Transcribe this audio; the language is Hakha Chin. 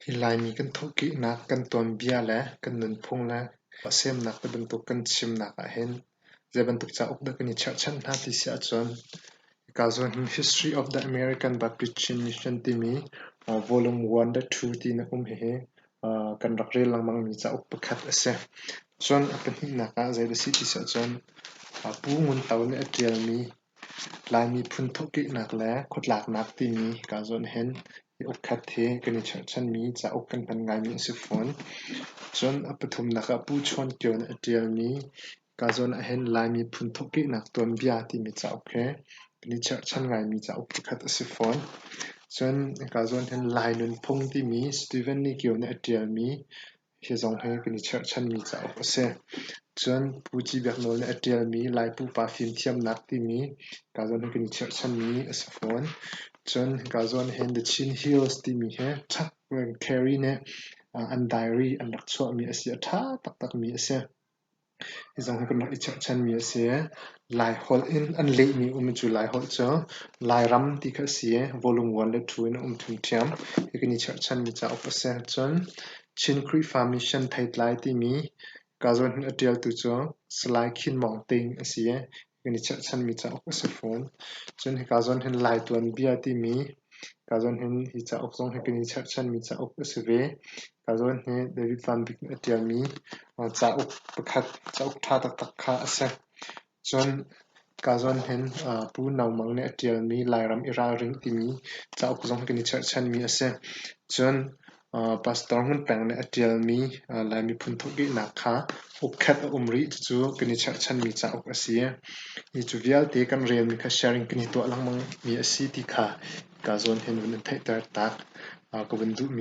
Hi Laimi kan thawhkehnak kan tuanbia le kan nunphung le semnak ti bantuk kan chimnak ahhin zeibantuk cauk dah kan i cherhchanh hna ti si ahcun hikaa zuam hi History of the American Baptistry Mission timi volume one le two tiin a um. Hihi kan rak rel lengmangmi cauk pakhat a si. Cun a pahnihnak ah zei dah a si ti si ahcun Pu Ngun To nih a ṭialmi Laimi phunthuk kihnak le khuatlaknak timi kaa zuan hen. Mi ukhat hi kan i cherhchanmi cauk kan hman ngaimi a si fawn. Cun a pathumnak ah Pu Chuan Kio nih a ṭialmi kaa zuan ahhin Laimi phunthuk kihnak tuanbia timi cauk he kan i cherhchan ngaimi cauk pakhat a si fawn. Cun kaa zuan hen Lai Nunphung timi Steven Lee Kio nih a ṭialmi Hi zong hi kan i cherhchanmi cauk a si. Cun Pu Ci Biak Nawl nih a ṭialmi Lai Pupa Fimthiamnak timi kaazuan hi kan i cherhchanmi a si fawn. Cun hi kaazuan hin The Chin Hills timi hi Chuck Carey nih an diary an rak chuahmi a si. A ṭha taktakmi a si. Hi zong hi kan rak i chekchanmi a si. Laiholh in an lehmi um cu Laiholh cu Lairam ti kha a si i volume one le two in a um ṭhiamṭhiam. Hi kan i chekchanmi cauk a si ahcun Chin Khrihfa Mission Theitlai timi ka zawn hin a ṭialtu cu Salai Khin Maung Teing a si i kan i cherhchanmi cauk a si fawn. Cun hika zawn hin Lai tuanbia timi hika zawn hin hi cauk zong hi kan i cherhchanmi cauk a si ve. Hika zawn hi David Van Bik nih a ṭialmi cauk pakhat, cauk ṭha taktak kha a si. Cun hika zawn hin Pu Naung Mang nih a ṭialmi Lairam i ralring timi cauk zong hi kan i cherhchanmi a si. Cun Pastor Ngun Peng nih a ṭialmi Laimi phunthuk dihnak kha ukhet a um rih cucu kan i cherhchanmi cauk a si. Hi cu vialte kan relmi kha sharing kan i tuah lengmang mi a si ti kha ka zawn he vun in theihter taak ka vun duhmi a si.